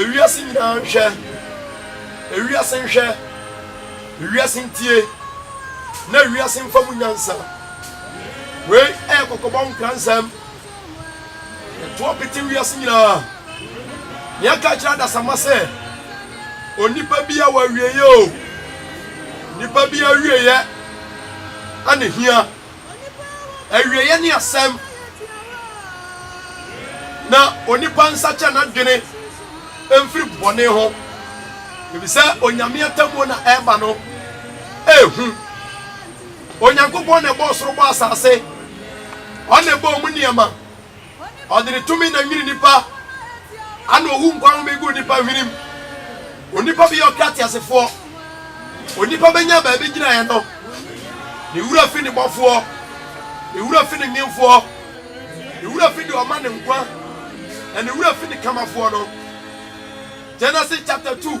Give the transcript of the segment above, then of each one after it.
Ewiase nyinaa nhwɛ, ewiase nhwɛ, ewiase ntie, na ewiase mfa mu nyansa. Wei ɛyɛ kɔkɔbɔ nkransɛm. Ɛtoɔ pete wiase nyinaa. Nea ɛka kyerɛ adasamma sɛ, onipa bi a wɔawieɛ o, nipa bi awieɛ ɛne hia. Awieɛ ne asɛm. Na onipa nsakyɛ n'adwene mfiri bɔne ho, ɛfiri sɛ Onyame atemmuo na ɛreba no ɛhu. Onyankopɔn na ɛbɔɔ soro bɔɔ asase, Ɔno na ɛbɔɔ mu nneɛma. Ɔde ne tumi na nwini nnipa, ana owu nkwa home gu nnipa hwenem. Onipa bɛyɛ ɔkra teasefoɔ, onipa bɛnya baabi gyinaeɛ no, ne wura fi ne bɔfoɔ, ne wura fi ne nwenfoɔ, ne wura fi deɛ ɔma ne nkwa, na ne wura fi ne kamafoɔ no. Genesis chapter 2.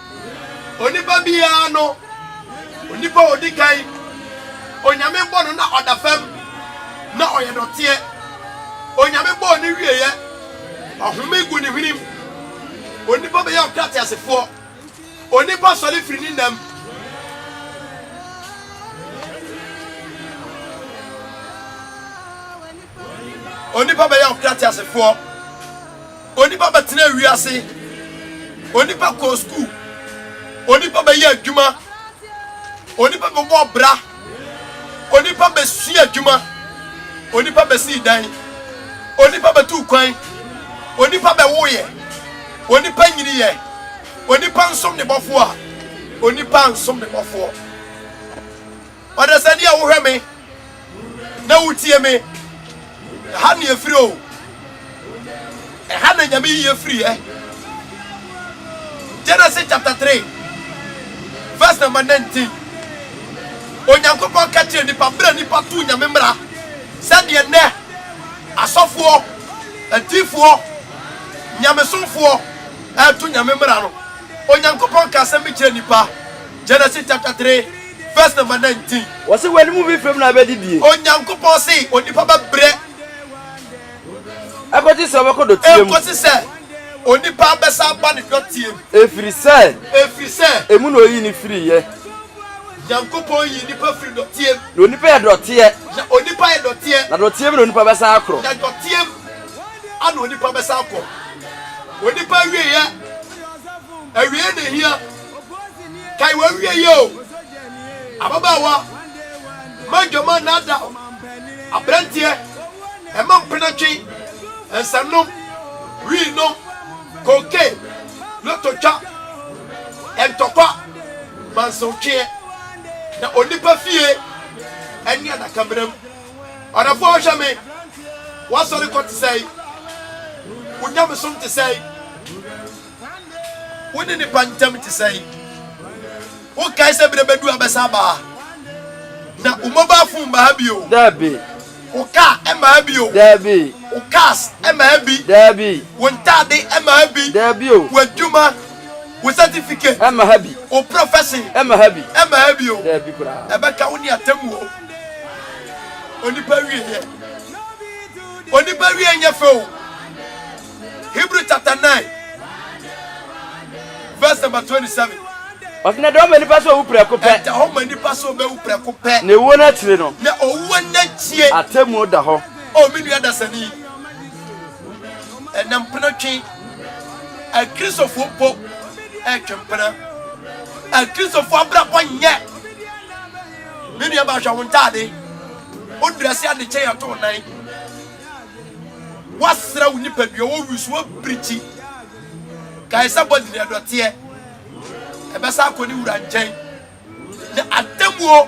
Onipa biara no, onipa a ɔdi kan, Onyame bɔ no na ɔda fam, na ɔyɛ dɔteɛ. Onyame bɔɔ no wieɛ, ɔhome gu ne hwenem. Onipa bɛyɛ ɔkrateasefoɔ, onipa sɔre firi ne nam. Onipa bɛyɛ ɔkrateasefoɔ. Onipa bɛtenaa wiase, onipa kɔɔ sukuu, onipa bɛyɛ adwuma, onipa bɛbɔ ɔbra, onipa bɛsua adwuma, onipa bɛsii dan, onipa bɛtuu kwan, onipa bɛwoeɛ, onipa nyiniiɛ, onipa nsom ne bɔfoɔ a, onipa ansom ne bɔfoɔ. Ɔdasani a wohwɛ me na wotie me. Ɛha na efiri o. Ɛha na nyame yiye firi ɛ. Genesis chapter three verse number nineteen. Onyankopɔn ka kyerɛ nipa bere a nipa tu nyame mmara sɛdeɛ nnɛ asɔfoɔ, atifoɔ, nyamesomfoɔ ɛtu nyame mmara no. Onyankopɔn ka asɛm bi kyerɛ nipa. Genesis chapter three verse number nineteen. Wɔsi wɛni mu bi fɛm na ɛbɛ di die. Onyankopɔn si onipa bɛ brɛ. Ɛkɔsi sɛ ɔbɛkɔ dɔteɛ mu. Ɛkɔsi sɛ onipa abɛsa aba ne dɔteɛ mu. Efiri sɛ. Efiri sɛ. Emu na oyi ne firi yɛ. Nyankopɔn yi nipa firi dɔteɛ mu. Na onipa yɛ dɔteɛ. Na onipa yɛ dɔteɛ. Na dɔteɛ mu na onipa bɛsa akorɔ. Na dɔteɛ mu ana onipa bɛsa akɔ. Onipa awie yɛ. Awie na ehia. kae w'awie yɛ o ababaawa ma dwama nada aberanteɛ ɛma mpenatwe nsanom wii nom koke lototwa ɛntɔkwa mansotweɛ na onipa fie ɛne adakamena mu ɔdɔfoɔ ɔhwɛ me wasɔre kɔ te sɛe wo nyamesom te sɛe Wo ne nipa ntam te sɛn? Wokae sɛ bere bɛdu a bɛsa aba ha? Na wo mobile phone mma ha bio? Dabi. Wo car mma ha bio? Dabi. Wo cars mma ha bi? Dabi. Wo ntade mma ha bi? Dabi o. W'adwuma, wo certificate mma ha bi? Wo profession mma ha bi? Mma ha bio. Dabi koraa. Ɛbɛka wo ne atemmuo. Onipa wie yɛ. Onipa wie nyɛ fɛ o. Hebrew chapter 9, verse number 27. Ɔsɛ na ɛda hɔ ma nipa sɛ owu prɛko pɛ. Ɛda hɔ ma nipa sɛ obewu prɛko pɛ. Na ewuo no akyire no. Na owuo no akyie. Atemmuo da hɔ. O me nua dasani, ɛnɛ mpena twe. Akristofoɔ mpo ɛtwe mpena. Akristofoɔ abrabɔ nyɛ. Me nua baahwɛ wo ntaade. Wo drɛse adekyɛ yɛto wo nan. Woasra wo nipadua, woawi so, woapirikyi. Kae sɛ bɔne deɛ dɔteɛ. Ɛbɛsa akɔ ne wura nkyɛn. Na atemmuo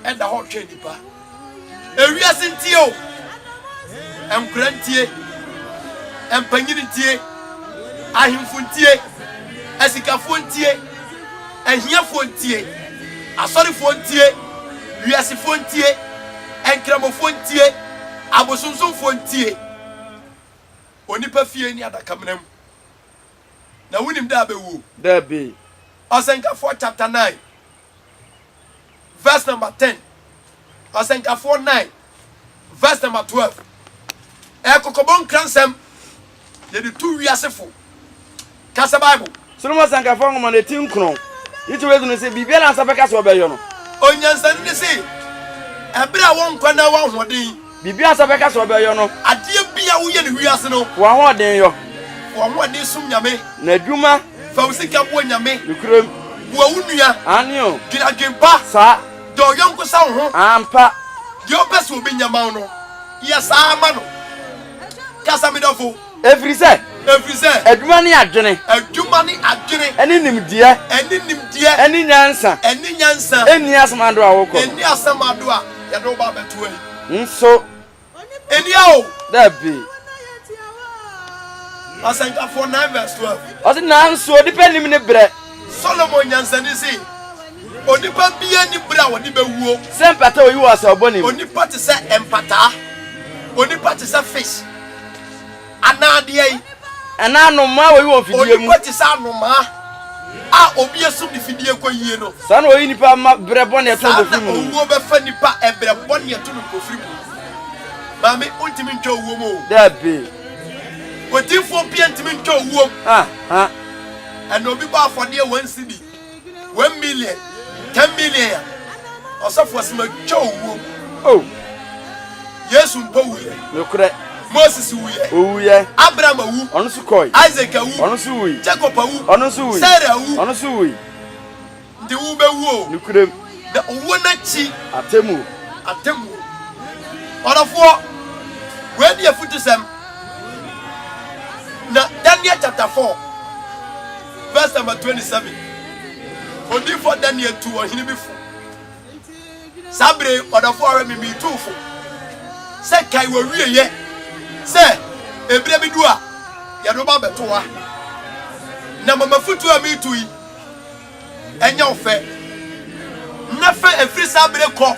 ɛda hɔ retwɛn nipa. Ewiase ntie o. Nkora ntie. Mpanyin ntie. Ahemfo ntie. Asikafoɔ ntie. Ahiafoɔ ntie. Asɔrefoɔ ntie. Wiasefoɔ ntie. Nkramofoɔ ntie, abosonsomfoɔ ntie, onipa fie ne adakamena mu, na wonim da a bɛwuo. Dabi. Ɔsɛnkafoɔ chapter nine verse number ten, Ɔsɛnkafoɔ nine verse number twelve, ɛyɛ kɔkɔbɔ nkransɛm. Yɛde tu wiase fo kasa Bible. Solomon Asankafo Nwoma no eti nkron ne ti w'edu no se, Biribiara a nsa bɛka se ɔbɛyɔ no. Onyansani no se, Bere a wo nkwa na w'ahoɔden. Biribiara a nsa bɛka se ɔbɛyɔ no. Adeɛ bi a woyɛ no wiase no. Fa w'ahoɔden yɔ. Fa w'ahoɔden som Nyame. N'adwuma. Fa wo sika boa Nyame. Nokorɛm. Boa wo nua. Aane o. Dwen adwen pa. Saa. Dɔ wo yɔnko sɛ wo ho. Ampa. Deɛ ɔpɛ se obenya ma wo no, yɛ saa ma no. kasa mi dɔfo. Efiri sɛ. Efiri sɛ. Adwuma ne adwene. Adwuma ne adwene. Ɛne nimdeɛ. Ɛne nimdeɛ. Ɛne nyansa. Ɛne nyansa. Ɛnni asamado a wokɔ. Ɛnni asamado a yɛde wo ba abɛto ayi. Nso. Ɛnni a o. Dabi. Asɛnkafoɔ nine verse twelve. Ɔsi nanso onipa nim ne brɛ. Solomon nyansani si. Onipa biara nni bere a ɔde bɛwuo. Sɛ mpataa a ɔyi wɔ asau bɔne mu. Onipa te sɛ mpataa. Onipa te sɛ fish anaa deɛn. Anaa anomaa a ɔyi wɔ mfidie mu. Onipa te sɛ anomaa a obi asum ne fidie kɔyie no. Saa na ɔyi nipa ma berɛ bɔne ɛto no mpofiri mu. Saa na owuo bɛfa nipa ɛberɛ bɔne ɛto no mpofiri mu. Maame, wontumi ntwa owuo mu o. Dabi. Odiifoɔ pia ntumi ntwa owuo mu. Aha. Ɛna obi bɔ afɔdeɛ wɔn nsi bi. one million ten million a ɔsɔfo ɔsɛm atwa owuo oh. yesu mpo wuyɛ nokorɛ moses wuyɛ owuyɛ abraham awu ɔno nso kɔe isaac awu ɔno nso wui jacob awu ɔno nso wui sarah awu ɔno nso wui nti wobɛwu o nokorɛm na owuo no akyi atemmuo atemmuo ɔdɔfoɔ wei ne afutusɛm na daniel chapter 4 verse number 27 odiifo daniel tu ɔhene bi fo saa bere ɔdɔfo ara mi mi tu fo sɛ kae wɔ wie yɛ sɛ ebire bi du a yɛde ba bɛto wa na mama futu a mi tu yi ɛnyɛ ɔfɛ na fɛ efiri saa bere kɔ.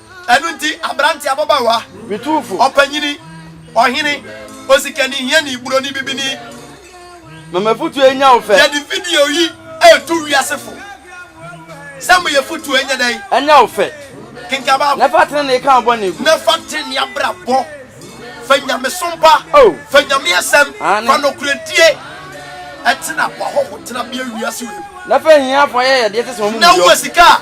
Ɛno nti, aberante, ababaawa, ɔpanyini, ɔhene, osikani, hiani, buroni, bibini. Ma m'afotu anya wo fɛ. Yɛde video yi reto wiase fo sɛ ma y'afotu ɛnyɛ dɛn? Ɛnyɛ wo fɛ. Kenkan Bible. Na fa trenee ka wo bɔne gu. Na fa trenee abrabɔ. Fa nyamesom pa. Oh. Fa Nyame asɛm. Aane. Fa nokorɛdie. Ɛtena w'ahɔho tenabea wiase wei mu. Na fa ahiafoɔ ayɛyɛdeɛ te sɛ wɔn mu yɔ. Na wowɔ sika a.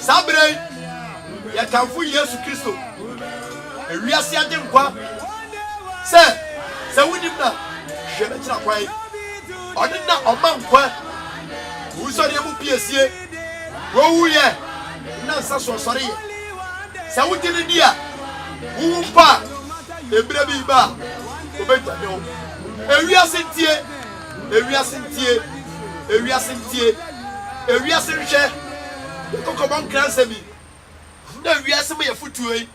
saa berɛ yi yɛkamfo yesu kristo ewiase agyenkwa sɛ sɛ wonim na hwɛ no kyerɛ kwan ɔne na ɔma nkwa wusɔreɛ mu piesie wowuyɛ na nsa so ɔsɔreyɛ sɛ wogye no di a wowu mpo a ɛberɛ bi ba a wɔbɛdwane wo ewiase ntie Ewiase ntie, ewiase ntie, ewiase nhwɛ, yɛ kɔkɔbɔ nkransɛm yi, na wiase ma yɛ fotuo yi,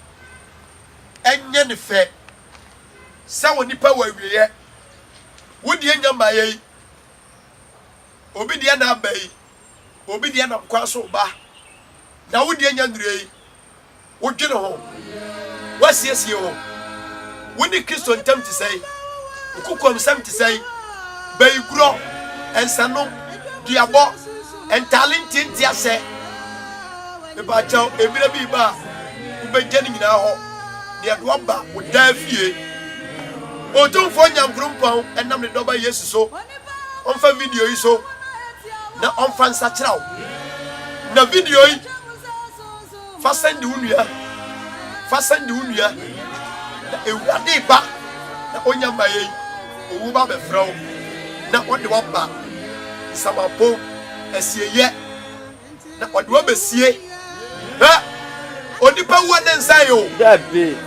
Ɛnyɛ no fɛ sɛ onipa wɔ awieɛ, wo deɛ nnya mmaeɛ yi, obi deɛ na aba yi, obi deɛ nam kwan so reba, na wo deɛ nnya nnurui. Wodwene ho? Woasiesie wo ho? Wo ne Kristo ntam te sɛn? Wo kokoamsɛm te sɛn? Bayigorɔ, nsanom, duabɔ, ntaale ntiantiasɛ, mepaakyɛw, mmerɛ bi reba a wobɛgya ne nyinaa hɔ, na yɛde woaba wo daa fie. Otumfoɔ Nyankorompɔn nam ne Dɔba Yesu so, ɔmfa video yi so na ɔmfa nsakyera wo. Na video yi. Fa sɛn de wo nua. Fa sɛn de wo nua. Na Awurade ba na ɔnya ma yɛn. Owu ba bɛfrɛ wo na ɔde waba nsamapon asieyɛ na ɔde wabesie. Hwɛ, onipa wu a ne nsa yɛ o. Dabi.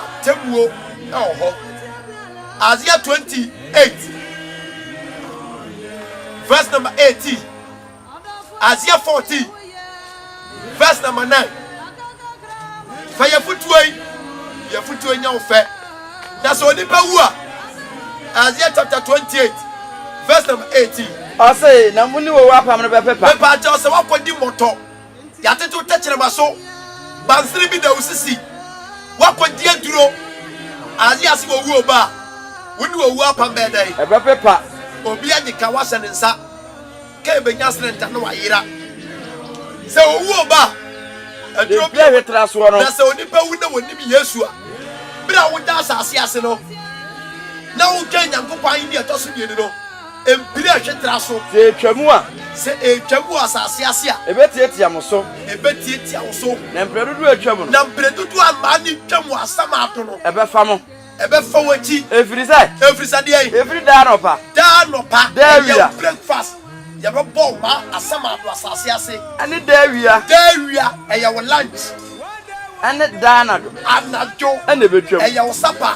Atemmuo ɛwɔ hɔ. Isaiah 28 verse number 18. Isaiah 14 verse number 9. Fa yɛfotuo yi, yɛfotuo nya wo fɛ. Na sɛ onipa wu a, Isaiah chapter 28 verse number 18. Ɔse, na mo ne wɔwu apam no bɛpepa. Mepaakyɛw sɛ wakɔdi mmɔtɔ. Yɛatete wo tɛkyerɛma so. Bansere bi da wo sisi. Woakɔgye aduro. Aye ase wɔ wuo ba a, wo ne owuo apam bɛyɛ dɛn? Ɛbɛpepa. Obi agye ka woahyɛ ne nsa. Ka ɛbɛnya srɛnta na wayera. Sɛ owuo ba a, aduro bi a wɔde tra soɔ no. Na sɛ onipa wu na wɔnnim Yesu a, berɛ a woda asase ase no, na woka Nyankopɔn ahennie a ɛtɔ so mmienu no. Mpire a ɛtwe tra so. Sɛ etwa mu a. Sɛ etwa mu wɔ asase ase a. Ebetiatia mo so. Ebetiatia wo so. Na mpire dodoɔ a etwa mu no. Na mpire dodoɔ a mmaa no twa mu asamaato no. Ɛbɛfa mo. Ɛbɛfa w'akyi. Ɛfiri sɛ. Ɛfiri sɛ deɛn? Ɛfiri daa anɔpa. Daa anɔpa. Daa awia. Ɛyɛ breakfast. Yɛbɛbɔ wo ma asamaato asase ase. Ɛne daa awia. Daa awia. Ɛyɛ wo lunch. Ɛne daa anadwo. Anadwo. Ɛna ɛbɛtwam. Ɛyɛ wo supper.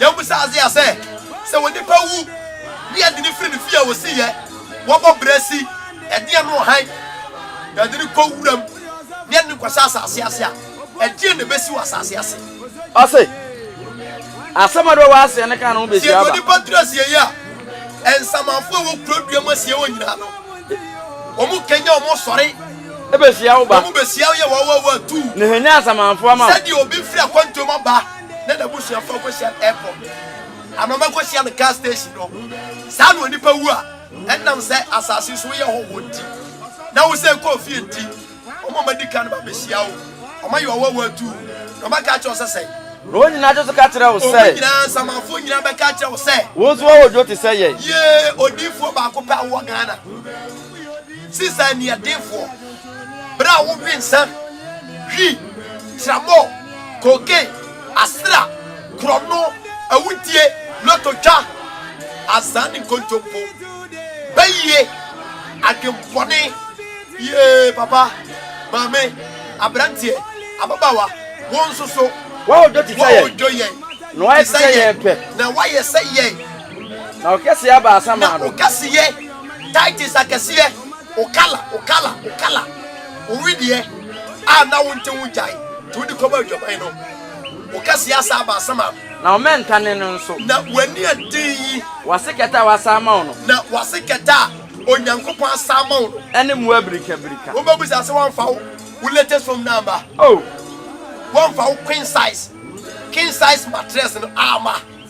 Yɛmmisa Isaiah sɛ, Sɛ onipa wu ne yɛde no firi ne fie a ɔsi yɛ, wɔbɔ berɛ si, ɛdeɛn ne ɔhan, na yɛde no kɔ wuram ne yɛde no kɔhyɛ asase ase a, ɛdeɛn na ɛbɛsi wɔ asase ase? Ɔse, Asɛm a ɛwɔ aseɛ no ka ne ho bɛsi aba. Sieɛ deɛ onipa tena asieɛ a, nsamanfoɔ a ɛwɔ kuro dua mu asieɛ hɔ nyinaa no, wɔn kanya wɔn sɔre. Ɛbɛhyia wo ba. Na wɔbɛhyia wo yɛ wɔn awɔwɔ atuu. Na hwɛ, nya nsamanfoɔ ama wo. Sɛdeɛ obi firi akwantuo mu aba. na n'abusuafoɔ kɔhyia no airport anaa ɔmɛkɔhyia no gas station hɔ. Saa na onipa wu a ɛnam sɛ asase so woyɛ hɔhoɔ nti na wosɛ kɔɔ fie nti, wɔn a wɔadi kan no bɛbɛhyia wo, wɔayɛ ɔwɔwɔ atu wo, na wɔaka akyerɛ wo sɛ sɛn? Na wɔn nyinaa nso ka kyerɛ wo sɛ. Wɔn nyinaa, nsamanfoɔ nyinaa bɛka akyerɛ wo sɛ. Wo nso wowɔ odwo te sɛ yɛn. Yee, odiyifoɔ baako pɛ a wowɔ Ghana. Sisi a nniɛdenfoɔ. bere a wowe nsã hwi tramɔ koke asera korɔno awudie loto twa azaa ne nkontompo bɛyie adwempɔne yee papa maame aberanteɛ ababaawa wɔn nso so wɔn odwo te sɛ yɛn na wɔayɛ te sɛ yɛn pɛ na wɔayɛ sɛ yɛn na ɔkɛseɛ abaasa maa no na ɔkɛseɛ Titus akɛseɛ, wo kala, wo kala, wo kala, wo wedeɛ a na wonte ho gyae, nti wode kɔbɔɔ adwaman no, wo kɛseɛ asan aba asɛm a. Na wo mmɛnta ne no nso. Na w'ani a den yi. W'ase kɛtɛ a wasan ama wo no. Na w'ase kɛtɛ a Onyankopɔn asan ama wo no. Ne mmoa birikabirika. Wobɛbisa sɛ wɔamfa wo wo latest home no amma? Oh! Wɔamfa wo queen size, king size mattress no amma?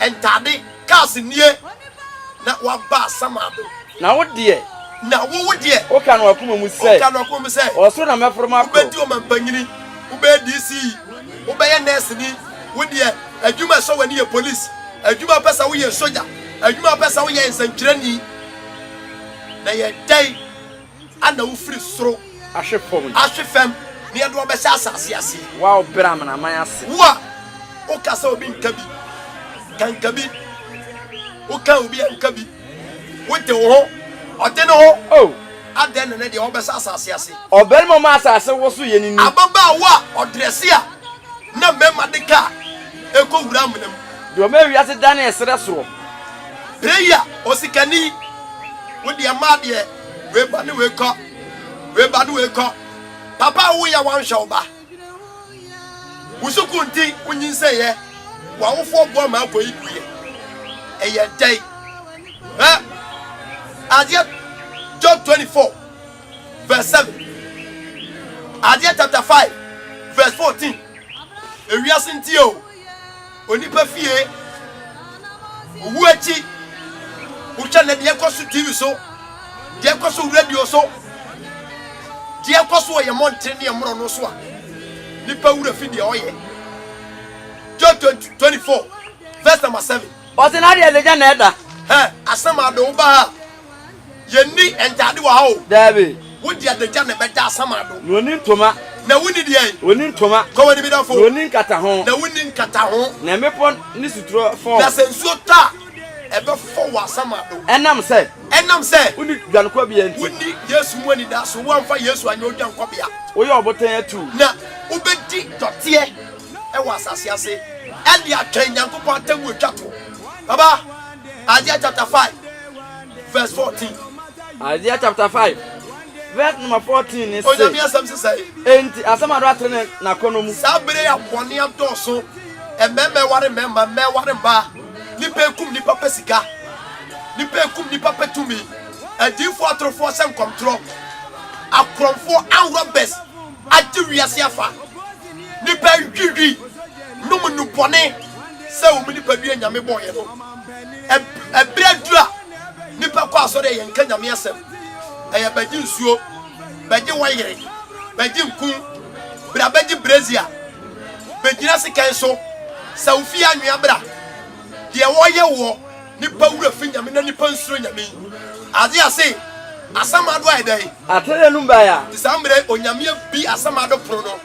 Ntade, kaa se nie. Na waba Sama do. Na wo deɛ. Na wo wo deɛ. Woka no w'akoma mu sɛ. Woka no w'akoma mu sɛ. Wɔ soro na mɛforo makɔ. Wobɛdi ɔmampanyini, wobɛyɛ DC, wobɛyɛ nɛɛseni, wo deɛ adwuma a ɛsɔ w'ani yɛ polisi, adwuma a wopɛ sɛ woyɛ sogya, adwuma a wopɛ sɛ woyɛ yɛ nsɛnkyerɛni. Na yɛ dɛn? Ana wofiri soro. Ahwe fam no. Ahwe fam na yɛde wɔn bɛhyɛ asase ase. Wo a wobrɛ amanaman ase. Wo a woka sɛ obi nka bi. Ka nka bi. Woka obi anka bi. Wote wo ho. Ɔte ne ho. Oh. Adɛn na ne deɛ wɔbɛhyɛ asase ase. Ɔbarima ma asase woso yɛ ne ni. Ababaawa a ɔdrɛse a na mmarima de ka a ɛkɔ wura amena mu. Deɛ ɔma wiase dane ɛserɛ soɔ. Berɛ yi a osikani wo deɛ maa deɛ. Wei ba ne wei kɔ. Wei ba ne wei kɔ. Papa a woyɛ wanhwɛ wo ba. Wo sukuu nti wonyinsɛeɛ. W'awofoɔ boa ma akɔ yi guiɛ. Ɛyɛ dɛn? Ɛ adeɛ Job 24 verse 7. Adeɛ chapter 5 verse 14. Ewiase nti o. onipa fie owu akyi wohwɛ na deɛ ɛkɔ so tv so deɛ ɛkɔ so radio so deɛ ɛkɔ so wɔ yɛn mmɔnten ne ɛmorɔ no so a nipa wura fi deɛ ɔyɛ John 24 verse number 7 ɔse na deɛ ɛde gya na ɛda asɛm ade wo ba ha Yɛnni ntaade wɔ ha o. Daabi. Wo de adagya na ɛbɛda asamado. Na ɔnni ntoma. Na wonni deɛn? Ɔnni ntoma. Kɔ w'anim da fo. Na ɔnni nkataho. Na wonni nkataho. Na mmepɔ ne suturɔ fɔ wo. Na sɛ nsuo tɔ a, ɛbɛfɔ wo asamado. Ɛnam sɛ. Ɛnam sɛ. Wonni dwankɔbea nti. Wonni Yesu mu anidaso. Woamfa Yesu anyɛ wo dwankɔbea. Woyɛ ɔbotan atuu. Na wobɛdi dɔteɛ wɔ asase ase de atwɛn Nyankopɔn atemmuo atwa toɔ. Baba. Isaiah chapter five verse fourteen. Isaiah chapter five verse number fourteen ni se. Onyame asɛm sisa yi. Enti asɛm ado atere ne n'akɔnɔ mu. Saa bere a bɔne adɔɔso, mmarima ware mmarima, mmaa ware mmaa, nipa ekum nipa pɛ sika, nipa ekum nipa pɛ tumi, adiifoɔ atorofoɔ hyɛ nkɔmtorɔ, akorɔmfoɔ and robbers. Agye wiase afa. Nnipa ntwitwi nom nnubɔne sɛ wɔn nipadua Nyame bɔeɛ no. Ɛberɛ aduru a nnipa kɔ asɔre a yɛnka Nyame asɛm. Ɛyɛ bɛgye nsuo, bɛgye wayere, bɛgye nku, bra bɛgye brezia, bɛgyina sekan so, sɛ wo fie anwea bra. Deɛ wɔyɛ woɔ, nnipa werɛ fi Nyame na nnipa nsuro Nyame yi. Aze ase, asɛm ado ayɛ dɛn? Atrɛ n'anom bae a. Nti saa mmerɛ yi Onyame abie asɛm ado pono no.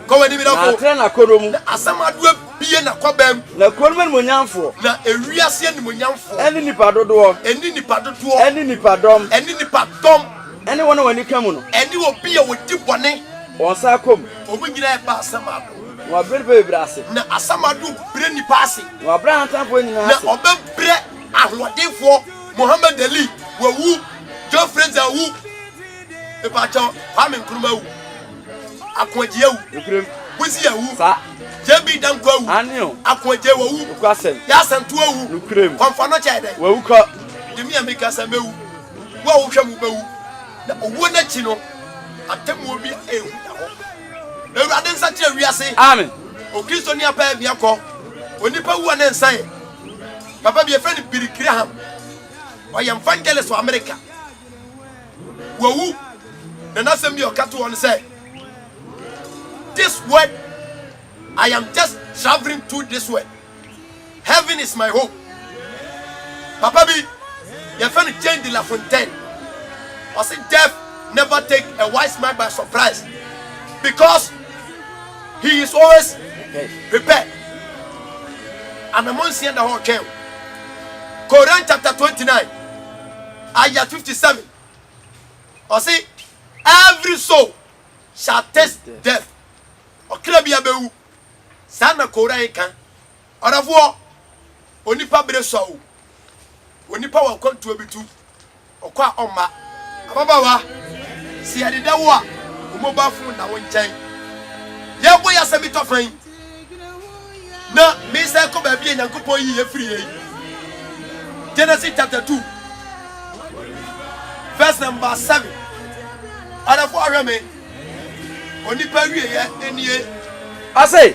Kɔ w'anim dɔfo. Na atrɛ n'akɔnnɔ mu. Na asɛm ado abie n'akɔbam. Na kuro nom animuonyamfoɔ. Na ewiase animuonyamfoɔ. Ɛne nnipa dodoɔ. Ɛne nnipa dodoɔ. Ɛne nnipa dɔm. Ɛne nnipa dɔm. Ɛne wɔn a wɔn ani ka mu no. Ɛne obi a ɔdi bɔne. Wɔn nsa akɔ mu. Wɔn nyinaa ɛba asɛm ado. Na wabrɛ nnipa bebree ase. Na asɛm ado brɛ nnipa ase. Na wabrɛ ahantanfoɔ nyinaa ase. Na ɔbɛbrɛ ahoɔdenfoɔ. Mohammed Ali wawu, Joe Frazier awu, epakyɛw Kwame Nkrumah awu, Akoagye awu, Buzi awu, JB Danko awu, Akoagye wawu, Yasantu awu, Kɔmfɔ no kyɛ dɛ, wawu kɔ, demi a meka sɛ mɛwu, wo a wohwɛ mu bɛwu, na owuo n'akyi no atemmuo bi ehu da hɔ. Awurade nsa kyerɛ wiase. Amen. Okristoni apɛ miakɔ, onipa wu a ne nsa yɛ. Papa bi yɛfrɛ no Billy Graham. Ɔyɛ evangelist wɔ Amerika. Wawu na n'asɛm bi a ɔka to hɔ no sɛ this word I am just traveling through this word. Heaven is my home. Papa bi yɛfrɛ no Jane de la Fontaine. Ɔse death never take a wise man by surprise because He is always prepared. Anamɔ nsia da hɔ twɛn. Koran chapter twenty nine ayah fifty seven. Ɔsi every soul shall taste death. Ɔkra bi abɛwu. Saa na Koran ka. Ɔdɔfoɔ, onipa bere sua o. Onipa wɔ akwantuo bi tu, ɔkɔ a ɔmma. Ababaawa, sɛ yɛdeda wo a, wo mobile phone nna wo nkyɛn. Yɛrebɔ yɛn asɛm bi tɔ fã yi, na mesan kɔ baabi a Nyankopɔn yii yɛn firi yɛ yi. Genesis chapter 2, verse number 7. Ɔdɔfoɔ ahwɛ me, onipa wieyɛ nie. Ɔse,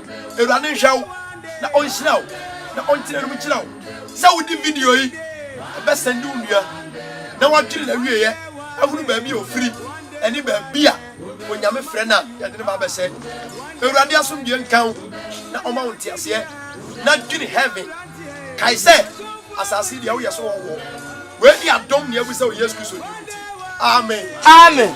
Awurade nhwɛ wo na ɔnhyira wo na ɔntena anim nkyerɛ wo sɛ wode video yi bɛsɛnde wo nua na wadwene na wieɛ ahunu baabi a ɔfiri ɛne baabi a onyame frɛ no a yɛde no ba bɛsɛ Awurade asomdwe nka wo na ɔma wo nteaseɛ na dwene heaven kae sɛ asase deɛ woyɛ so wɔwɔ wei ne adom ne abu sɛ wɔ Yesu Kristo di amen amen